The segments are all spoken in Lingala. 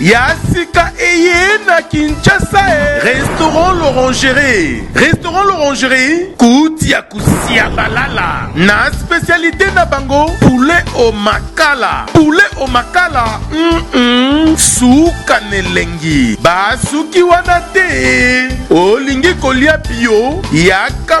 ya sika eye na kinshasa e. restaurant l'orangerie restaurant l'orangerie kuti ya kosia balala na spesialite na bango poulet au makala poulet au makala mm -mm. suka na elengi basuki wana te olingi kolia bio yaka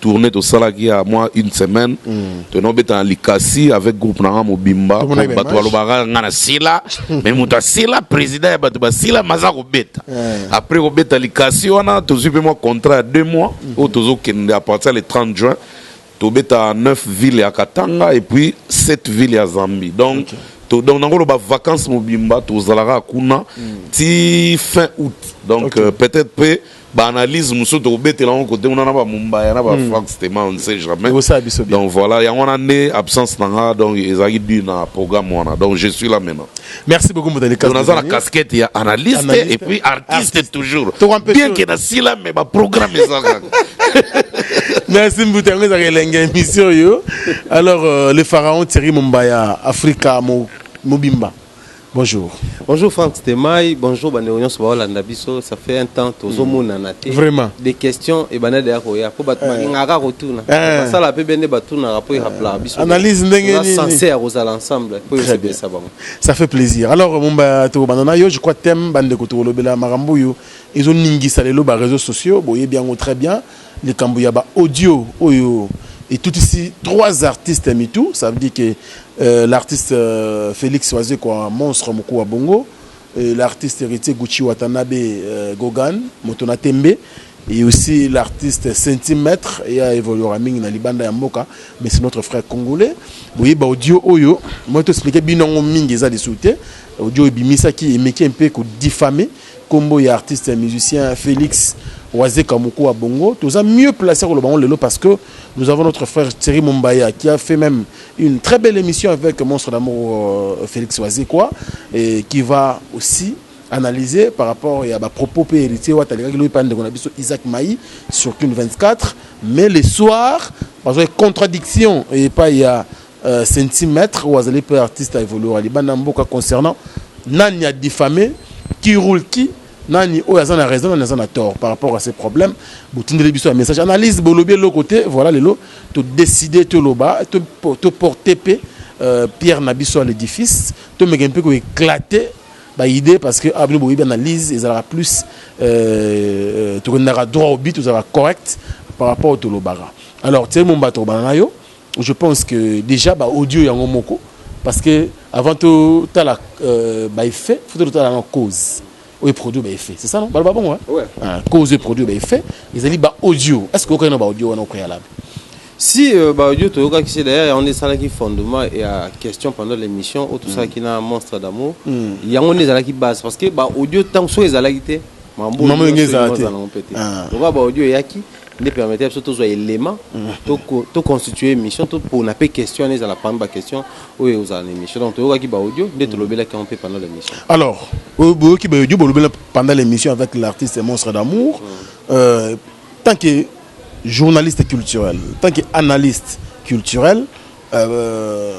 tourne tosalaki ya mwa une semaine mm. tonobeta na likasi avec groupe na nga mobimba bato balobaka nga na sila me moto asila président ya bato basila maza kobeta eh. après kobeta likasi wana tozwi mpe mwa contrat ya deux mois mm. oyo tozokende à partir le 30 juin tobeta 9 ville ya katanga et puis 7 ville ya zambie donc okay. to, donc nango loba vacances mobimba tozalaka kuna mm. ti fin août donc okay. euh, peut-être mpe ba analyse mosusu tokobetela yango kote kuna na ba Mumbaya na ba hmm. Frank Stema on ne sait jamais donc voilà yango wana nde absence na nga donc ezalaki dû na programme wana donc je suis là maintenant merci beaucoup motali kasi naza na casquette ya analyste et puis artiste toujours bien que na sila mais ba programme ezalaka merci mbuta yango ezalaka elengi émission oyo alors euh, le pharaon Thierry Mumbaya Africa mobimba Bonjour. Bonjour Franck Stemay, bonjour bandeko nyonso baolanda biso, ça fait un temps tozomonana hmm. te. Vraiment. Des questions et banade ya koya po bato eh. balingaka kotuna. Eh. Basala pe bende batunaka po erapelaka biso. Analyse ndenge nini? Censé ya kozala ensemble po esepelisa bango. Ça fait plaisir. Alors Mumba tokobanda na yo, je crois thème bandeko tokolobela makambo oyo ezoningisa lelo ba réseaux sociaux, boyebi yango très bien. Likambo ya ba audio oyo etutisi trois artistes mitu, ça veut dire que euh, l'artiste euh, Felix Wazekwa monstre mokuu wa bongo et l'artiste héritier Gucci Watanabe euh, Gogan moto na tembe et aussi l'artiste Centimètre et a évoluera mingi na libanda ya mboka mais c'est notre frère congolais boye ba audio oyo moi to expliquer bino yango mingi eza lisusu te audio ebimisaki emeki mpe ko diffamer Kombo ya artiste ya musicien Felix Wazeka Mukua Bongo. Toza mieux placé à Kolobango Lelo parce que nous avons notre frère Thierry Mumbaya qui a fait même une très belle émission avec Monstre d'amour euh, Felix Wazekwa et qui va aussi analyser par rapport à ba propos pe héritier wa talika ki loipa ndeko na biso Isaac Maï sur Kin 24 mais le soir parce que contradiction et pas il y a Euh, centimètre ou azali peu artiste à évoluer à libanda mboka concernant nani a diffamé qui roule qui nani oyo aza na raison nani aza na tort par rapport à ces problèmes botindeli biso ya message analyse bolobi eloko te voilà lelo todécide toloba toporte mpe euh, pierre na biso ya l'édifice tomeke mpe koéclate baidée parce que abino ah, boyebi analyse ezalaka plus euh, euh, tokendaka droit au but tozalaka correct par rapport au tolobaka alors tieli mombato obana na yo Je pense que dejà ba audio yango moko parce que avant totala euh, ba effet faut totala na cause oyo eproduit ba effet c'est ça non baloba bongo ouais. ah, cause oyo eproduit ba effet ezali ba audio est ce que okokaki na ba audio wana au préalable si euh, ba audio toyokaki se d'ailleurs yango nde esalaki fondement ya question pendant l'émission oyo tosalaki mm. na monstre d'amour mm. yango nde ezalaki base parce que ba audio ntango soki ezalaki te mambo yango ezala te lokola ba audio eyaki nde permettre biso tozwa elema to constituer émission topona mpe question wana ezala parmi baquestion oyo ekozala na émission donc toyokaki baaudio nde mm. tolobelaki yango mpe pendant l'émission alors boyoki baaudio bolobela pendant l'émission avec l'artiste monstre d'amour mm. euh, tant que journaliste culturel tant que analyste culturel euh,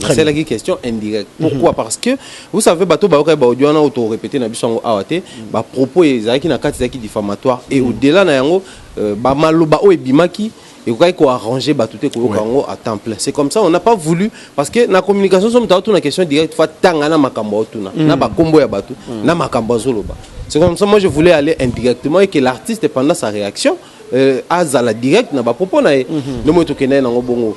nasalaki question indirecte mhm. pourquoi parce que vous savez bato bayokaki baaudio wana oyo torepete na biso yango awa te mhm. bapropos ezalaki na kati ezalaki diffamatoire et mhm. au-delà na yango euh, bamaloba oyo ebimaki ekokaki koarrange bato te koyoka yango à temps plein c'est comme ça on n'a pas voulu parce que na communication so moto aotuna question directe fa tanga na makambo aotuna na bakombo ya bato na makambo azoloba c'est comme ça moi je voulais aller indirectement et que l'artiste pendant sa réaction euh, azala direct na bapropos na ye nde moi tokendaki nango bongo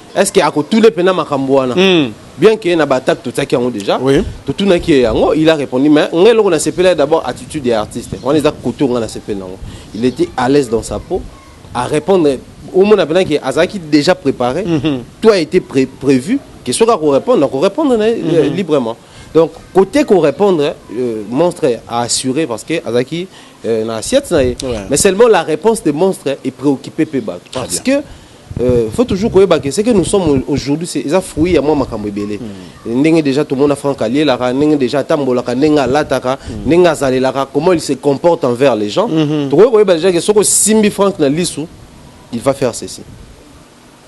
est ce que akotule mpena makambo wana mm. bien que na baattaque totiaki yango déjà oui. totunaki ye yango il a répondu mais ngai eloko nasepelaki d'abord attitude ya artiste wana eza kote ongai nasepeli nango il était à l'aise dans sa peau à répondre omona mpena ke azalaki déjà préparé mm -hmm. tout a été pré prévu ke soki akorépondre akorépondre na ye mm -hmm. librement donc côté qu'on répondre euh, monstre a assuré parce que azaki euh, na assiette na ye ouais. mais seulement la réponse de monstre est préoccupée pe bato parce bien. que Euh, faut toujours koyeba que ce que nous sommes aujourd'hui c'est eza fruit ya mwa makambo ebele mm. ndenge déjà tomona frank alielaka ndenge déjà atambolaka ndenge alataka mm. ndenge azalelaka comment il se comporte envers les gens mm -hmm. tokoki koyeba déjà ke soki osimbi frank na lisu il va faire ceci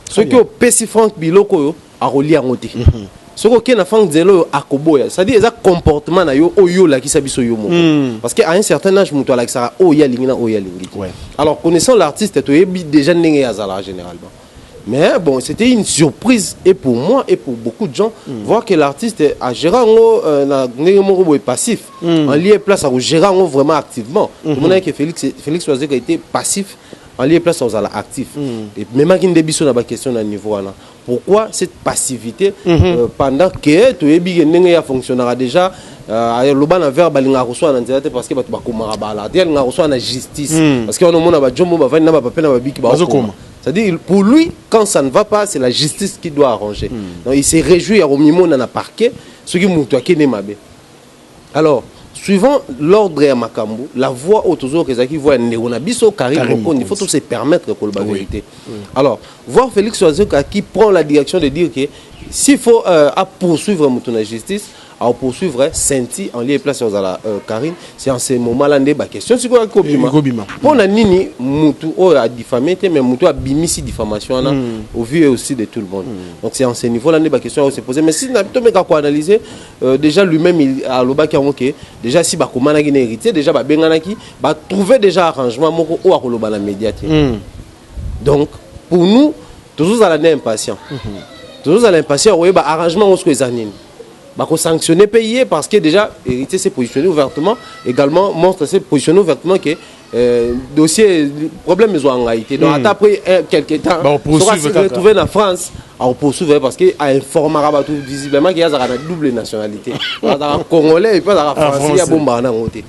soki opesi frank biloko oyo akolia yango te mm -hmm. soki oke na fank nzela oyo akoboya cestadire eza comportement na yo oyo olakisa biso yo moko mm. parce que à un certain âge moto alakisaka oyo ye alingi na oyo alingi te ouais. alors connaissant l'artiste toyebi déjà ndenge ye azalaka généralement mais bon c'était une surprise et pour moi et pour beaucoup de gens mm. voir que l'artiste agéra yango euh, na ndenge moko boye passif mm. en lieu place akogéra yango vraiment activement mm -hmm. tomonaki que félix, félix wazeka était passif en lieu place akozala actif mm. ememaki nde biso na baquestion na niveau wana pourquoi cette passivité mm -hmm. euh, pendant que toyebi ke ndenge ya fonctionnaka déjà euh, aloba na verbe alingaka koswana na nzela te parce que bato bakomaka bala te alingaka koswana na justice mm. parce que wana omona bajombo bavandi na bapape na babiki baokoma c'est-à-dire pour lui quand ça ne va pas c'est la justice qui doit arranger mm. donc il se réjouit ya komimona na parquet soki moto akende mabe Alors, suivant l'ordre ya makambo, la voix oyo tozoyoka ezalaki voix ya ndeko na biso Carine Carine Mokonzi. Il faut Mokonzi. to se permettre koloba Oui. verité. Alors, voir Felix Wazoka qui prend la direction de dire que s'il faut euh, à poursuivre moto na justice, à poursuivre Senti en lieu et place aux la euh, Carine, c'est en ce moment-là nde ba question sikoyo ya kobima. Ekobima. Mpo na nini mutu oyo a diffamé te mais mutu abimisi diffamation wana au vu et aussi de tout le monde. Donc c'est en ce niveau-là nde ba question ya se poser mais si na tomeka ko analyser Euh, déjà lui-même il alobaki yango ke déjà si bakomanaki na héritier déjà babenganaki batrouve déjà arrangement moko oyo akoloba na média te mm. donc pour nous tozozala nde impatient mm -hmm. tozozala impatient koyeba arrangement yango soko eza nini bakosanctionne mpe ye parce que déjà héritier s'est positionné ouvertement également monstre s'est positionné ouvertement ke Euh, dossier problème ezwa ngai te donc hmm. ata après eh, quelque temps bah, soki retrouve na france akopoursuivre parce que ainformaka bato visiblement ke azalaka na double nationalité azalaka congolais epuis azalaka ah, français ya bombaka na yango te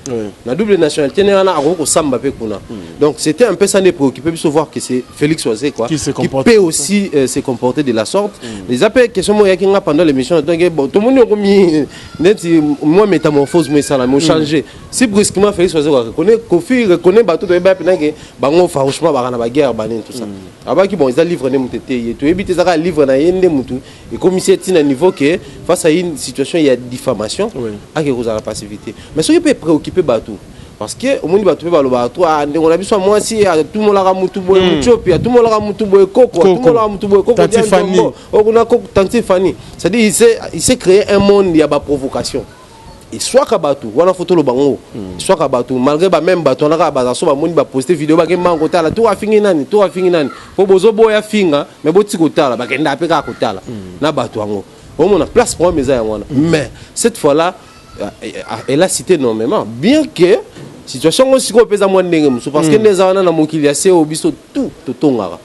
na double nationalité nde wana akoki kosamba mpe kuna hmm. donc c'était un peu ça nde préoccupé biso voir que c'est félix oise quoi qui peut aussi euh, se comporter de la sorte hmm. eza mpe question moko eyaki nga pendant l'émission donc eh, tomoni okomi neti mwa métamorphose mo esalami ochange si brusquement Félix Ozo reconnaît Kofi reconnaît bato toyeba pe nake bango farouchement baka na ba guerre banene tout ça mm. abaki bon eza livre nde mutu eteye toyebi te ezaka livre na ye nde mutu ekomisi ye ntina niveau que face à une situation ya diffamation ake kozala passivité mais soki pe préoccupe bato parce que omoni bato mpe balobaka to ah, ndeko na biso ya mwasi atumolaka motu boye hmm. mutiopi atumolaka motu boye koko atumolaka motu boye kokookuna oh, tanti fani c'est-à-dire il s'est créé un monde ya baprovocation eswaka bato wana fo toloba yango hmm. eswaka bato malgré ba même bato wana kaka bazaso bamoni baposte video bakei mbango kotala to afingi nani to afingi nani mpo bozoboya finga me boti kotala bakendaka mpe kaka kotala hmm. na bato yango omona place problème eza yango wana hmm. mais cette fois là euh, euh, euh, elle a cité nommément bien que situation yango sikoyo mpe eza mwa ndenge mosusu parce que nde eza wana na mokili ya seo biso tout totongaka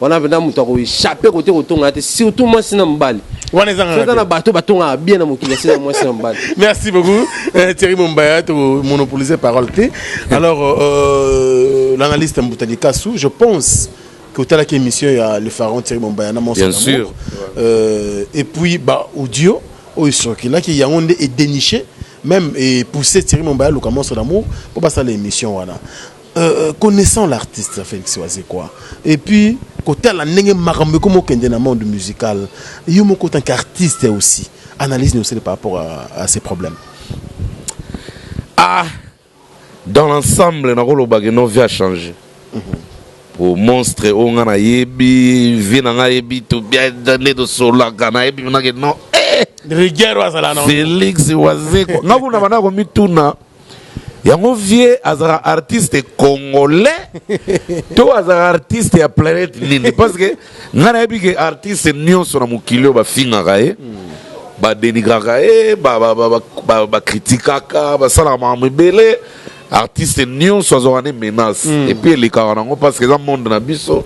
wana mpenza moto akoechappe kote kotongana te surtout mwasi na mobali wana ezangaaza na bato batongaka bien na mokili asina mwasi na mobali merci beaucoup eh, thierry mombaya tomonopolise parole te alors euh, l'analyste mbuta likasu je pense que otalaki émission ya le pharaon thierry mombaya na bien sûr euh, et puis ba audio oyo esokilaki yango nde edéniche même epousse thierry mombaya luka monso d'amour mpo basala émission wana Euh, euh, connaissant l'artiste Félix Wazekwa et puis kotala ndenge makambo ekomi okende na monde musical yo moko tant qu'artiste aussi analyse ni osele par rapport à, à ces problèmes ah dans l'ensemble nakoloba ke no vie a changé mm -hmm. po monstre oyo nga nayebi vie na nga yebi tobnde tosolaka nayebi nake no eh! rigueur azala na félix wazekwa nga kuna banda komituna Yango vieux azalaka artiste congolais to azalaka artiste ya planète nini parce que ngai nayebi ke artiste nyonso na mokili oyo bafingaka ye badenigraka ye bakritikaka basalaka makambo ebele artiste nyonso azwaka ne menace mm. epuis elekaka nango parce que eza monde na biso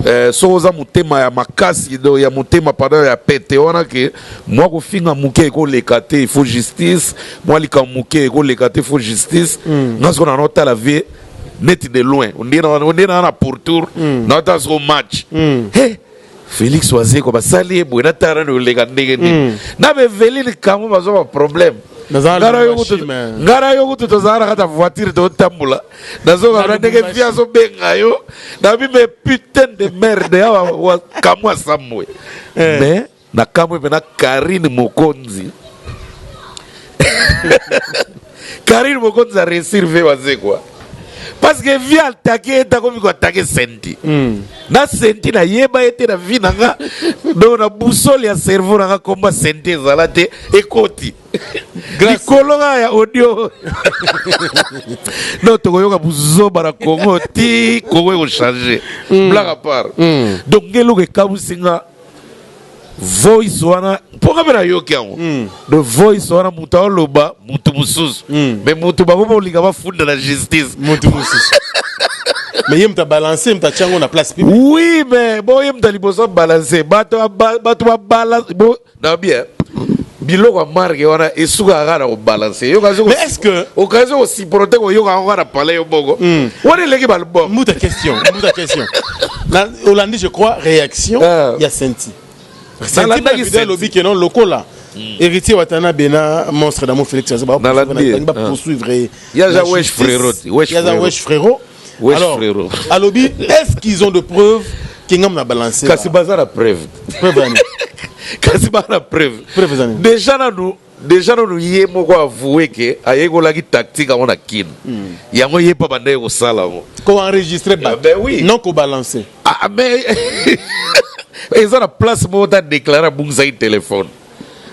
eh, soki oza motema ya makasi ya motema pardon ya pete wana ke Mua kofinga muke eko leka te, il faut justice. Mua likambo muke eko leka te, il faut justice. Nga sikoyo nano tala vie neti de loin. Ondire na ondire na na pourtour na tala siko match. He! Felix Wazekwa basali ye boye na tala na oleka ndenge nini. Na ba Eveline Kamu bazo ba problème. Naza Nga na yo Lubumbashi, kutu mais- nga na yo kutu tozala na kati ya voiture totambola. Nazoka Na na ndenge Lubumbashi. vie azo benga yo. Na bi me putain de merde awa wa- Kamu asambwe. Mais Na kamwe pena Carine Mokonzi Carine Mokonzi a réussir vie waze quoi parce que vie attaquer ye tako miko attaquer Senti mm. na Senti na yeba ye te na vie na nga donc na boussole ya cerveau na nga komba Senti ezala te ekoti likolo kaka ya audio non tokoyoka buzoba na Congo ti Congo ekochange mm. blague à part mm. donc ngeluka ekabusi nga voice wana mpo nga mpe nayoki yango hmm. de voice wana moto aoloba moto mosusu hmm. me moto bango baolinga bafunda na justice moto mosusu mais ye moto abalanse ye moto atya yango na place publique oui mais bo ye moto ya liboso abalanse bato babalanse bo na bien biloko ya marke wana esukaka kaka na kobalanse yokaokanisi kosiprote koyoka yango kaka na palais yo moko hmm. wana eleki balbom mbuta question mbuta question olandi je crois réaction ah. ya senti senti alobi ke non lokola hmm. héritier watanabe na monstre d'amour félix babangi bapoursuivre ye yaza wesh frérot alors alobi est ce qu'ils ont de preuves kingam na balancer kasi baza na preuve preuve kasi baza na preuve preuve déjà nanu Dejà nanu ye moko a avoue que ayekolaki tactique yango na kin. Yango ye pe abandaki kosala yango. Ko enregistrer batu. Ben oui. Non ko balancer. Ah mais eza na place moko te a declarer abungisaki telephone.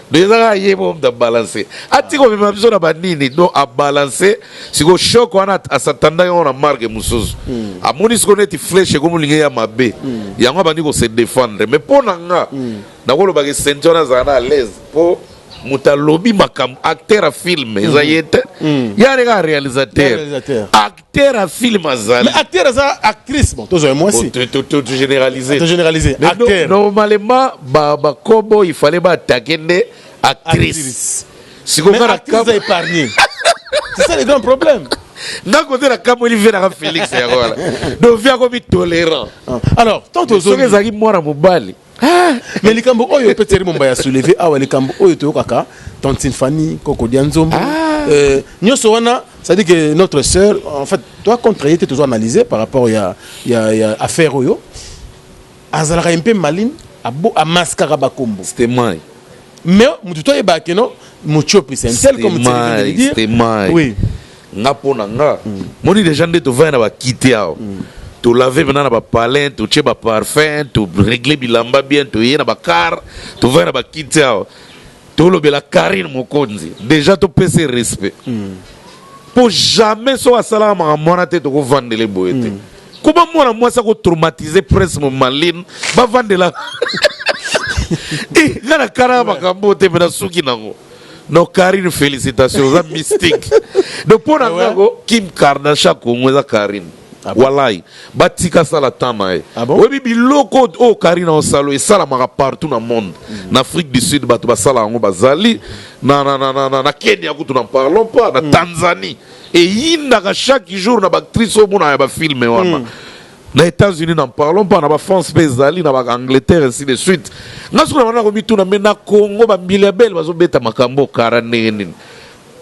Donc eza kaka ye moko mutu a balancer. Atika komema biso na ba nini? Donc a balancer sikoyo choc wana a s'attendaki yango na marque mususu. Amoni sikoyo neti flèche ekomi kolinga eya mabe. Yango abandi ko se defendre. Mais po na nga. Nakoloba ke sainty wana azala na alaise po moto alobi makambo acteur ya film eza ye te mm. ye aleka ya réalisateur acteur ya film azali acteur aza actrice bon tozwa mwasi généralisenormalement bakobo il fallait baattake nde actrice sikoyoaza épargne c'est ça le grand problème nga kote na kamweli ve naka félix yango wana donc ve akomi tolérant ah. alors tant soki ezalaki mwana mobali Ah, mais likambo oyo peut Thierry Momba ya soulever awa likambo oyo toyokaka tantine Fanny koko dia nzombo ah. euh, nyonso wana c'est-à-dire que notre sœur en fait toi contre ye te tozo analyser par rapport ya, ya, ya affaire oyo azalaka ye mpe maline amaskaka bakombo c'était mai mais motu toyebaka keno motiopi c'est un tel comme dire oui nga mpo na nga moni deja nde tovandi na bakiti awa tolave mpena na bapalin totie baparfum toregle bilamba bien toye na bakar tovandi na bakiti awa tolobela karine mokonzi deja topesa ye respect mpo jamais soki asalaka makambo wana te tokovandele boye te koma mwana mwasi akotraumatise prince momaline bavandela Eh, nga nakanaka makambo oyo te me nasuki nango Non Karine felicitations oza mystique. Donc pona ah nga ko Kim Kardashian Congo eza Karine. Ah bon? Walai batika sala temps na ye ah bon? oyebi biloko oyo Karine osalo esalamaka partout na monde mm. na Afrique du Sud bato basala yango bazali na, na, na, na, na, na Kenya kutu na parlons pas na mm. Tanzanie eyindaka chaque jour na baactrice oyo monaka ya bafilme wana mm. Na Etats Unis n'en parlons pas, na ba France pe ezali, na ba Angleterre ainsi de suite. Nga sikoyo na banda ko mituna mais na Congo ba mbiliabel bazo beta makambo oyo kara ndenge nini?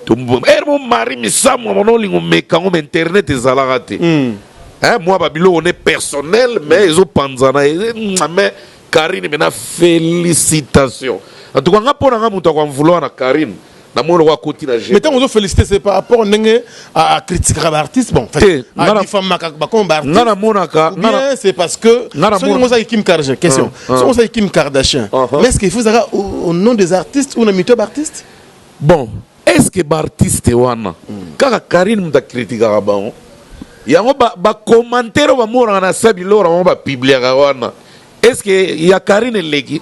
Heure moko Marie Misamu abanda ko linga omeka ngo mais internet ezalaka te. Hein mua ba biloko nde personnel mais ezo panzana mais Carine mais na felicitations. En tout cas nga po na nga mutu ako en vouloir na Carine namoni lokola akoti na mais ntango ozo félicité c'est par rapport ndenge acritikaka baartiste bon adifamaka bakoma baartiste nga namonaka bien c'est parce que soki ngo ozaki kim kardashian question ah, ah. soki ozaki kim kardashian ah, mais est ce qu'il faut ezaka au nom des artistes ou na mito ya baartiste bon est ce que baartiste wana hmm. kaka karine moto akritikaka bango yango bacommentaire oyo bamonaka na sabilora bango bapibliaka wana est ce que ya karine eleki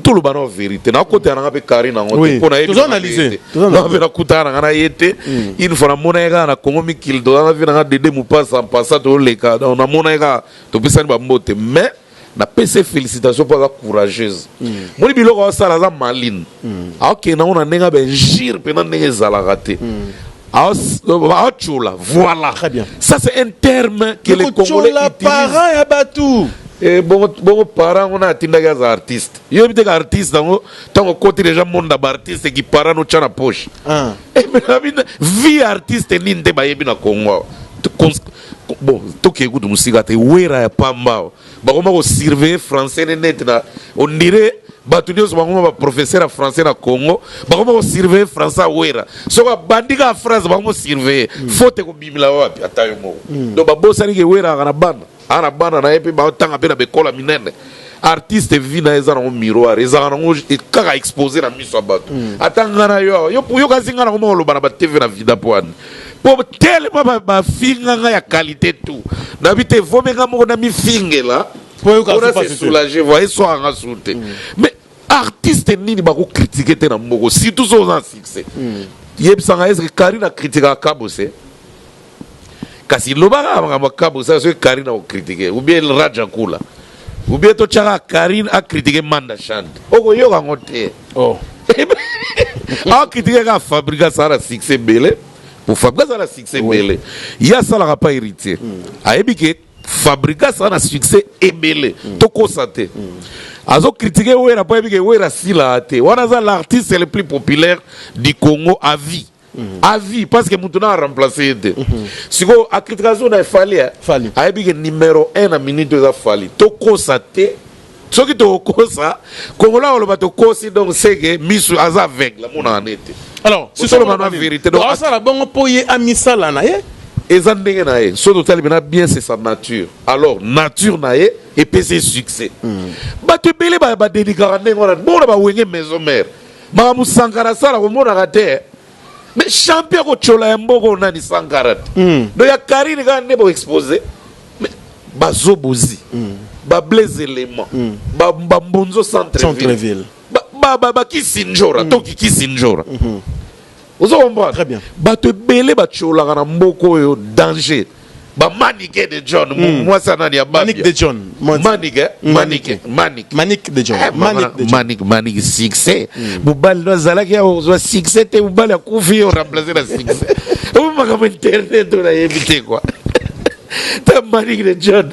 toloba na verite nakotela nanga mpe carine yango te mpo nayebipe nakutana nanga na ye te mm. une fois namona ye kaka na congo mikili toza na vi nanga dede mopasa mpasa toleka donc namona ye kaka topesani bambote mais napesi ye félicitation mpo aza courageuse mm. moni biloko asala aza maline mm. akokende nango na ndenge abenjire mpena ndenge ezalaka te aotshola euh, voilà très bien ça c'est un terme que les congolais utilisent parents ya batou eh, bongo bongo parent ngo na atindaki aza artiste yo biteka artiste yango ntango okoti deja monde ya baartiste ki parent notya na poche ah. eh, vie artiste nini nde bayebi na congo awa bon tokei kutu mosika te wera ya pamba awa bakoma ko surveiller français ne net na on dirait bato nyonso bakoma ba professeur ya français na congo bakoma ko surveiller français awera soki abandi kaka phrase bakoma surveiller mm. faute ekobimila wapi ata yo moko mm. donc babosani ke wera aka na bana aa na bana na ye mpe batanga mpe na bekola minene artiste vi na ye eza nango miroir ezalaka nango e, kaka expose na miso ya bato mm. ata ngai na yo yo kasi ngai nango moko oloba na batv na vida mpo ani po telema ba- bafinga nga ya qualité tout nabi te vomi nga moko namifingela Po oyoka pona pasi se te. soulager voi eswaka nga sur te mais artiste nini bakokritike te na mboko surtout so oza na succès yebisanga eske karine akritikaka kabose kasi lobaka makambo ya kabose soki karine akokritike ou bien raja kula Ou bien to tchaka Karine a critiquer Manda Chante. Oko yoka ngo te. Oh. a critiquer ka Fabrica Sara succès belé. Pour Fabrica Sara succès belé. Ya sala ka pas héritier. Hmm. A ebi ke Fabrica Sara succès ebelé. Hmm. To ko santé. Hmm. Azo critiquer Wera pas ebi ke Wera sila te. Wana za l'artiste le plus populaire du Congo à vie. Mm-hmm. à vie parce que mutu na remplacer ye te mm-hmm. sikoyo akritika zo na efali eh? ayebi ke numéro 1 na minute eza fali tokosa te soki tokokosa kongola koloba tokosi donc seke misu aza aveugle amonaka ne te alors sisoloba na vérité donc asala bongo mpo ye amisala na ye eza ndenge na ye soki totali mpena bien c'est sa nature alors nature na ye epesi ye succès mm. bato ebele badenigraka ndenge wana bongo na bawenge maison mare Makambo Sankara asala komonaka te eh. Mais champion ko chola ya mboka oyo nani Sankara te. Mm. Donc ya Karine kaka nde bo exposer. Mais bazo bozi. Mm. Ba Blaise Element. Mm. Ba, ba Mbonzo Centre-ville. Centre-ville. Ba, ba, ba, ba Kisinjora, mm. toki Kisinjora. Mm -hmm. ozo comprendre très bien bato ebele batiolaka na mboka oyo danger bamanike de john hmm. mwasi anani ya manik de john manik eh? hmm. manik manik manik de john eh, manik de john manik manik succès hmm. mobali no azalaki ya kozwa succès te mobali akufi yo remplacer na succès oyo makambo internet oyo nayebi te kwa ta manik de john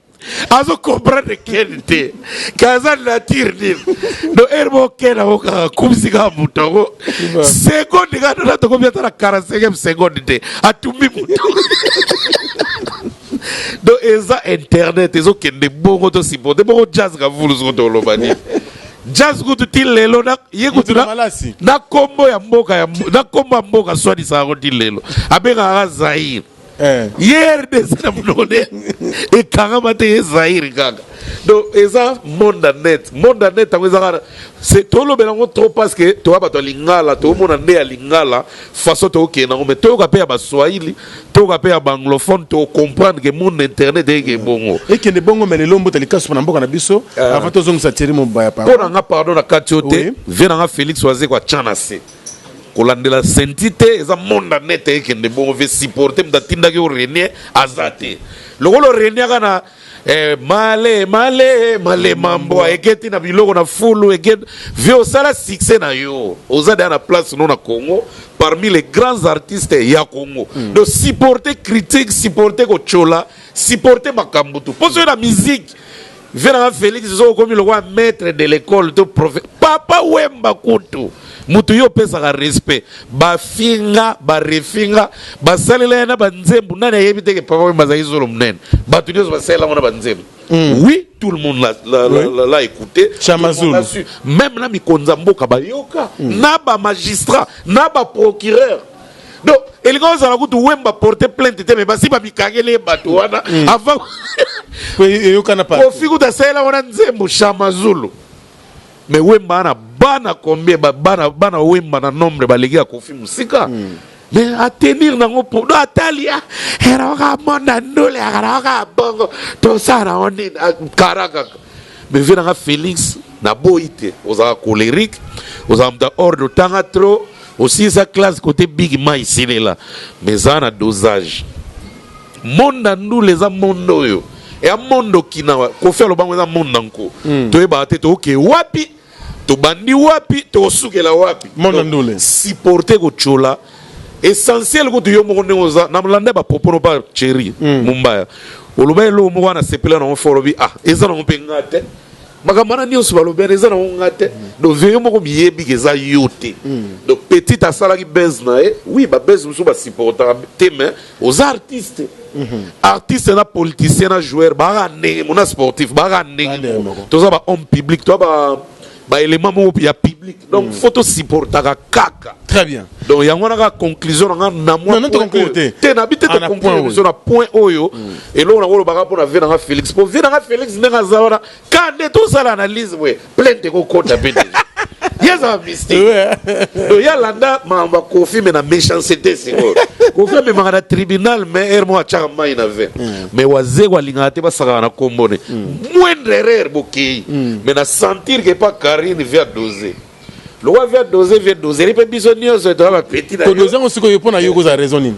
azo comprendre ken te kaza nature nini do heure moko ken yango kaka akumisi kaka moto yango seconde kaka tona tokomi ata na 45 seconde te atumbi moto do eza internet ezokende bongo tosipote bongo jazz kavulu soko toloba nini jazz kutu ti lelo ye kutu na kombo ya mboka na kombo ya mboka swadisa yango ti lelo abengaka zaire Eh. ye rdc na monoko nde ekangama te ye zaire kaka donc eza monde ya net monde ya net yango ezaka tolobela yango trop parce que toya bato ya lingala tomona nde ya lingala façon tokokende yango mais toyoka mpe ya baswahili toyoka mpe ya baanglophone tocomprendre ke monde internet eyeke mm. bongo ekende bongo me lelo mbota likasu mpo na mboka na biso eh. avant tozongisa tieri mobaya mpo na nga pardon na kati yo te vie na nga félix wazekwa tya na se kolandela senti te eza monde en net ekende bongo ve supporter moto atindaki yo renie aza te lokola oreniaka na eh, male male male mambo eketi na biloko na fulu eketi vie osala succès na yo oza deya na place no na congo parmi les grands artistes ya congo mm. donc supporter critique supporter kotyola supporter makambo tu mpo soki na musique Vieux na nga Felix soki okomi lokola maitre de l'ecole to profe papa wemba kutu mutu yo opesaka respect bafinga barefinga basalela ye na banzembu nani ayebi te ke papa wemba azalaki zolo munene bato nyonso basalela yango na banzembu Mm. oui tout le monde l'a- l'a- Oui. l'a- l'a écouté Chama Tout le monde Zulu. l'a su. même na mikonzi ya mboka bayoka na bamagistrat na baprocureur donc elingi ozala kutu wemba porte plainte te me basi bamikangeli ye bato wana mm. avant eyokana kofi kutu asalela wana nzembo shamazulu me wemba wana bana combien bana, bana wemba na nombre baleki ya kofi mosika mm. me atenir nango podo atali ah, eraoka monda ndule akaraoka bongo tosala yango nini ah, kara kaka Mais vieux nanga Felix na boyi te ozalaka colerique ozalaka moto ya ordre otanga trop osilisa classe kote big mai silela mais eza na dosage monde ya ndule eza monde oyo ya monde okinawa kofi alobango eza monde na nko hmm. toyebaka te tooke wapi tobandi wapi tokosukela wapi mona ndule supporter kochola essentiel kutu yo moko ndenge oza na landa ba propos no pa cheri mm. mumbaya oloba eloko moko wana sepela nango fo olobi ah eza nango mpe nga te makambo wana nyonso balobi wana eza nango nga te mm. donc veyo moko miyebi ke eza yo te mm. donc petit asalaki base na ye oui babase mosusu basupportaka te mais Oza artiste artiste na politicien na joueur baaka ndenge mona sportif baaka ndenge moko toza ba homme public toza ba ba élément moko ya public donc mm. faut to supportaka kaka très bien donc yango wana kaka conclusion na nga na mwa non, non, te te na bi te ah, conclusion na point oyo mm. eloko na kolobaka mpo na vie na nga félix mpo vie na nga félix ndenge aza wana ka nde tosala analyse boye plainte ekokota mpe deja ye aza mystique donc ye alanda makambo ya kofi me na méchancete sikoyo kofi amemaka na tribunal me heure moko atyaka mai na vin me wazeko alingaka te basakaka na kombo ne moindre erreur bokei me na sentir ke pa karine via dose lokola via dose vie doseri mpe biso nyonso toza bapeti na yo todoze yango sikoyo mpo na yo kozala raison nini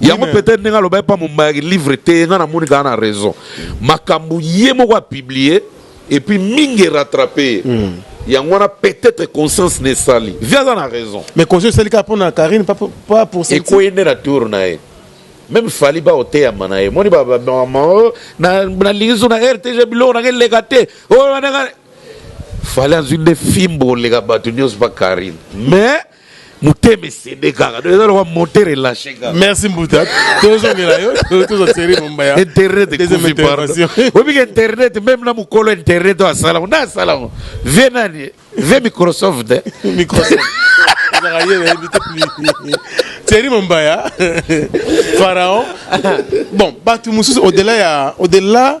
yango peut être ndenge aloba epa mombaya livre te nga namoni kaka na raison makambo ye moko apublie epuis mingi erattrape ye mm. yango wana peut-être conscience na esali vi aza na raison mais conscience esali kaka mpo na karine pas pour ekoye nde na tour na ye meme fali baoteyama na ye moni oh, nalingi so na rtg biloko nanga eleka te oh, fali azwi nde fimbo oleka bato nyonso pa karine mais motema esende kaka donc eza lokwa moteur elache kaka merci mbuta tozongela yo toza seri mombaya internet ekufi pardon obika internet meme na mokolo internet oyo asalango nde asalango vie nani vie microsoft eh? microsoft ezaka ye nayebi te thierry mombaya pharaon bon bato mosusu au delà ya au delà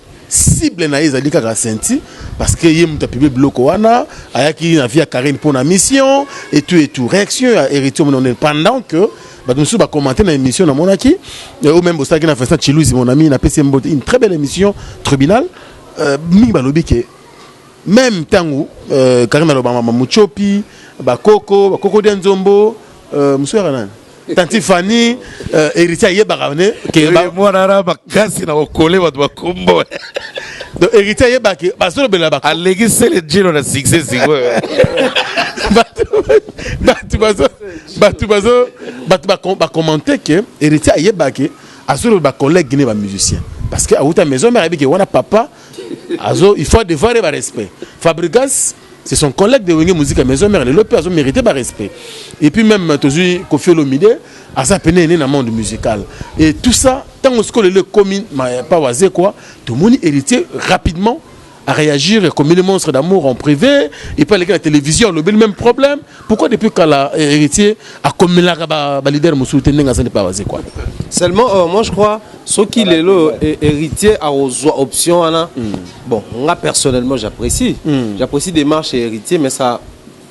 Cible na ye ezali kaka Sainthy parce que ye mutu a publie biloko wana ayaki na vie ya Carine mpo na mission et tout et tout reaction ya Heritier omona ndenge pendant que bato mosusu ba commenter na émission namonaki euh, ou même bosalaki na Vincent Chiluzi mon ami napesi ye mbote une très belle émission tribunal euh, mingi balobi ke meme ntango euh, Carine aloba mama Muchopi bakoko bakoko dia nzombo euh, mosusu yaka nani Tanti Fanny euh, héritier ayebaka ne ke ba mwana na makasi na kokole bato bakombo donc héritier ayebaki bazolobela ba aleki sele jino na succès sikoyo bato bazo bato bazo bato bakommente ke héritier ayebaki azoloba collègue ne bamusicien parce que awuta maison mère ayebiki wana papa azo il faut devoir ye barespect fabrigas C'est son collègue de Wenge Musica Maison Mère lelo pe azo mériter ba respect. Et puis même tozui Koffi Olomide aza pene ene na monde musical. Et tout ça tango siko lelo komi pa waze quoi, tout moni héritier rapidement à réagir comme les monstres d'amour en privé et pas les la télévision le même problème Pourquoi depuis kala eh, héritier akomelaka ba, ba leader mosusu te ndenge azali pa wazekwa seulement euh, moi je crois soki lelo eh, héritier akozwa option wana mm. bon nga personnellement j'apprécie mm. j'apprécie démarche ya héritier mais ça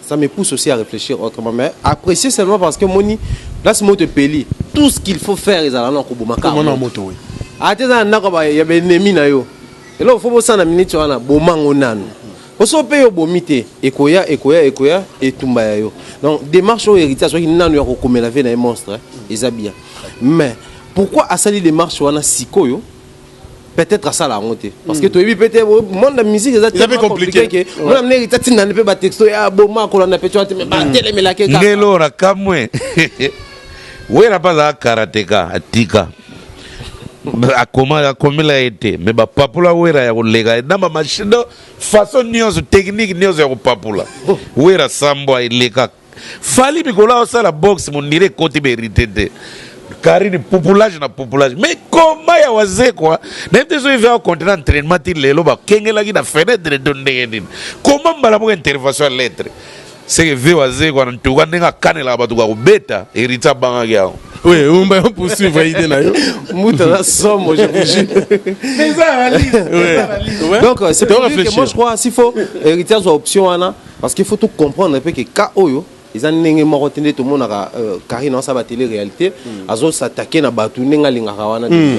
ça me pousse aussi à réfléchir autrement mais apprécier seulement parce que moni place moto epeli tout ce qu'il faut faire ezala na kobomaka moto oui ata eza na ndako ya baennemi na yo eloko fo bosana miniti wana bomango nanu Oso pe yo bomi te ekoya ekoya ekoya etumba ya yo donc demarche oyo héritier azwaki nanu ya kokomela vie na ye monstre eh, eza bien mais pourquoi asali demarche wana sikoyo peut-être asala yango te parce que hmm. toyebi peut-être oh, monde ya musique eza tellement compliqué que mwana mneri tatinda nde mpe batexto ya ah, boma kolanda mpe tyoa te me batelemelaki hmm. ngelo na kamwe wera mpe azalaka karateka atika akomela ye te me bapapula wera ya koleka na bamashine Façon nionso technique nionso ya kopapula Wera sambwa eleka Fally mikolo azo sala box mondire ekoti berite te Carine pupulage na pupulage mais combat ya wazekwa na yebite soki vea continue entraînement ti lelo bakengelaki na fenêtre to ndenge nini combat mbala moko intervention ya lettre Seke vieux wazekwa en tout cas ndenge akanelaka bato bakobeta heritier abangaki yango Oui, on va poursuivre l'idée nayo. Mouta la somme, je vous jure. Mais ça analyse. Ouais. Donc euh, c'est pour dire que moi je crois s'il faut héritage ou option wana parce qu'il faut tout comprendre un peu que ka oyo eza ndenge moko te nde tomonaka euh, carine asaba tele réalité mm. azosattake na bato ndenge alingaka wana mm.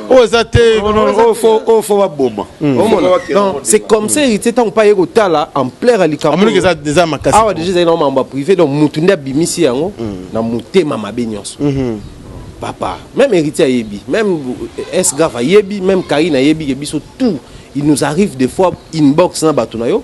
oyo eza te oyo fo baboma c'est comme ça héritier ntango mpe aye kotala ampleur ya likaboeza makasi awa deja ezali na mambo ya privé donc motu nde abimisi yango mm. na motema mabe nyonso mm-hmm. papa même héritier ayebi même esgrave ayebi même karine ayebi ke biso tout il nous arrive des fois inbox na bato na yo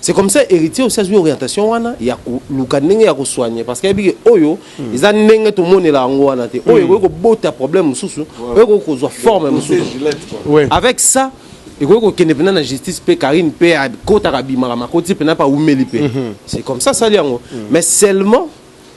C'est comme ça héritier aussi azwi orientation wana ya koluka ndenge ya kosoigne parce que ayebi ke oyo hmm. eza ndenge tomonela yango wana te oyo hmm. ekoki kobota problème mosusu oyo ekoki kozwa forme mosusu avec ça ekoki kokende mpena na justice mpe karine mpe akotaka abimaka makoti mpena mpe awumeli mpe hmm. c'est comme ça sali yango mais seulement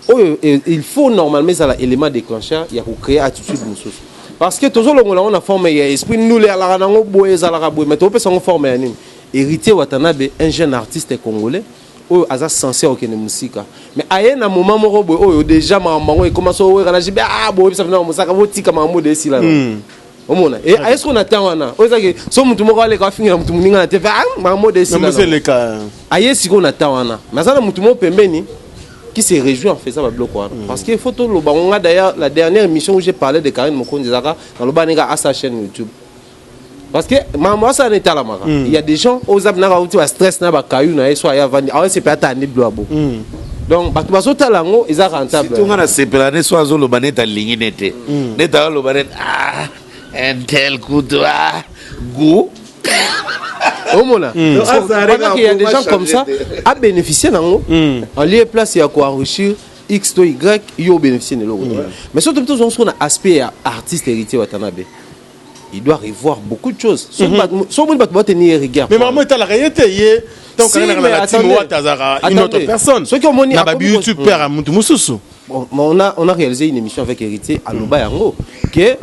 oyo il faut normalement ezala élément déclencheur ya ko créer attitude mosusu parce que tozolongola yango na forme ya esprit ndule alaka nango boye ezalaka boye mais topesa yango forme ya nini héritier watanabe un jeune artiste congolais oyo aza sense okende mosika mais aye na moment moko boye oyo déjà makambo yango ekoma so oyekana jibe ah boyebisa bino mosaka botika makambo de esila na hmm. omona e eh, ayesiko na temps wana oyo ezaki so motu moko aleka afingela motu moninga na te bamode esileleka aye sikoyo na temps wana mais aza na motu moko pembeni qui se réjouit en faisant ba blocs wana mm. parce que faut toloba ngo nga d'ailleurs la dernière émission où j'ai parlé de Karine Mokonzi ezaka naloba neka à sa chaîne YouTube parce que makambo asala na etalamaka mm. il y a des gens oyo oza binaka uti ba stress na ba caillou na ye so aya avandi awese mpe atandi blo abo mm. donc bato bazotala yango eza rentable tunga na sepela ne so azoloba neti alingi ne te hmm. neti azoloba neti ah, intel kutu ah, gout omona hmm. il y a des gens comme ça a bénéficié nango hmm. en lieu place ya koenrichir x to y yo obénéficie na eloko mais soki tobi tozongo soko na aspect ya artiste héritier watanabe il doit revoir beaucoup de choses soki mhm. bato soki omoni bato bateni ye rigueur mais makambo etalaka ye te ye soki omoni na babi youtube père ya motu mosusu on a, on a réalisé une émission avec héritier aloba yango que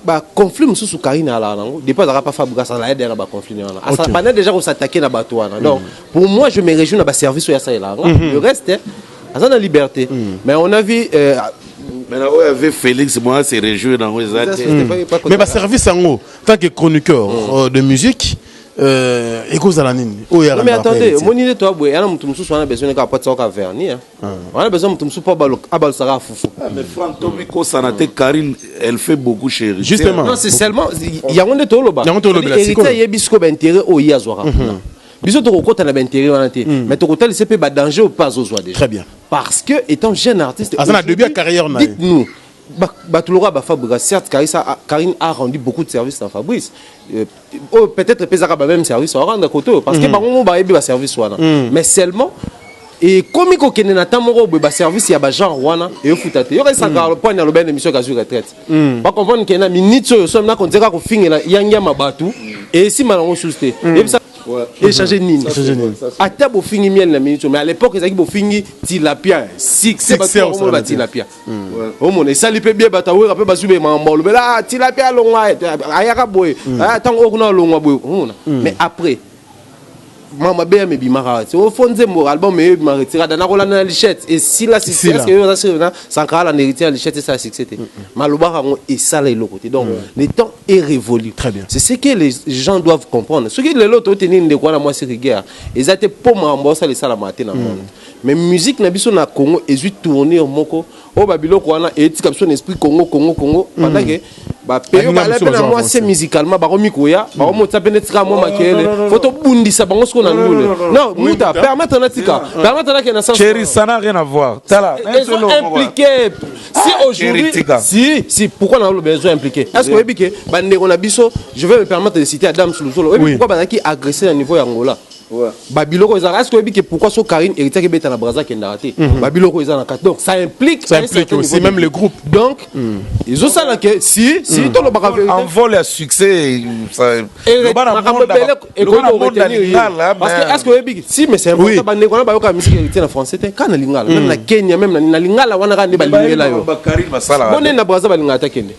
baconflit mosusu karine alaka nango depuis azalaka pa fabriga asala ye dena baconflit na wana asala banda déjà kosattake na bato wana donc mhm. pour moi je me réjouis na baservice oyo asalelaka mhm. le reste aza na liberte mais on a vu euh, Mais là, ouais, avec Félix, moi, c'est réjouir dans les Eza société années. baye bakota- mais baservice yango tant que chroniqueur euh, de musique euh, ekozala nini oyo ya Non, mais Randall attendez Heritier. omoni nde toya boye yana moto mosusu wana besoin kaka patisa kaka verni hein. wana besoin moto mosusu mpo abalo- abalusaka fufu Ah, Mais Franck, Tommy Kosanate, Karine, elle fait beaucoup chérie. Justement. non c'est seulement yango nde tolobaka Yango tolobela, Héritier sikoyo. ayebi sikoyo baintérêt oyo ye azwaka kuna biso tokokota na baintérêt wana te hmm. mais tokotalisa mpe badanger oyo mpe azozwa déjà très bien parce que étant jeune artiste aza na début ya carrière na dites nous bato lokola bafabriga certes karine a rendu beaucoup de service na fabrice euh, oyo peut-être epesaka bameme service waranda kote oyo parce que hmm. bango mo bayebi baservice wana hmm. mais seulement ekomi kokende na temps moko boye baservice ya bagenre wana eyofuta te yokaisaka poine alobi na émission kazwi retraite mm. ba comprendre que na minute oyo soki nako nzeka ko fingela yangia mabatu mm. et si malango sous te mm. yebisa échanger nini ata bofingi miel na minute mais à l'époque ezalaki bofingi tilapia succès baomona batilapia omona esali mpe bie bato awera mpe bazwi bemaka mba olobela tilapia alongwa ayaka boye ntango oyo kuna alongwa boye omona mais après ma mabe ya mebimaka wapi o fo nzembo album eyo ebima retirada nakolanda na lichette esila sisi eske yo oza sure na sankara landa héritier ya lichette esala succès te malobaka yango esala eloko te donc le temps est révolu très bien c'est ce que les gens doivent comprendre soki lelo toteni ndeko wana mwasi rigueur eza te mpo makambo osala esalamaka te na monde mais musique na biso na congo ezwi tournure moko oyo ba biloko wana etika biso na esprit congo congo congo mm. pendant que bapeyo bala mpe na mwa se musicalement bakomi koya mm. bakomotisa mpe netika mwa makele fo tobundisa bango siko na ndule non muta permettre natika permettre nake na senscherisa na rien avoir tala impliqué si ah, aujourd'hui si si pourquoi na oloba ezo impliqué est ce que oyebi ke bandeko na biso je vais me permettre de citer adam suluzolo oyebi pourquoi bazalaki agressé na niveau ya angola ba biloko ezalaka est ce que oyebi ke pourquoi so Carine héritier ke beta na Brazza kendaka te mhm. ba biloko eza na kati donc ça implique ça implique aussi même le groupe donc mhm. ils ont ça là que si si mhm. to lobaka vérité en vol à succès ça loba na monde et loba na monde lingala parce que est ce que oyebi si mais c'est important ba ndeko na ba yoka musique héritier na français te kana lingala même na Kenya même na lingala wana ka nde ba lingela yo bonne na Brazza ba lingala ta kende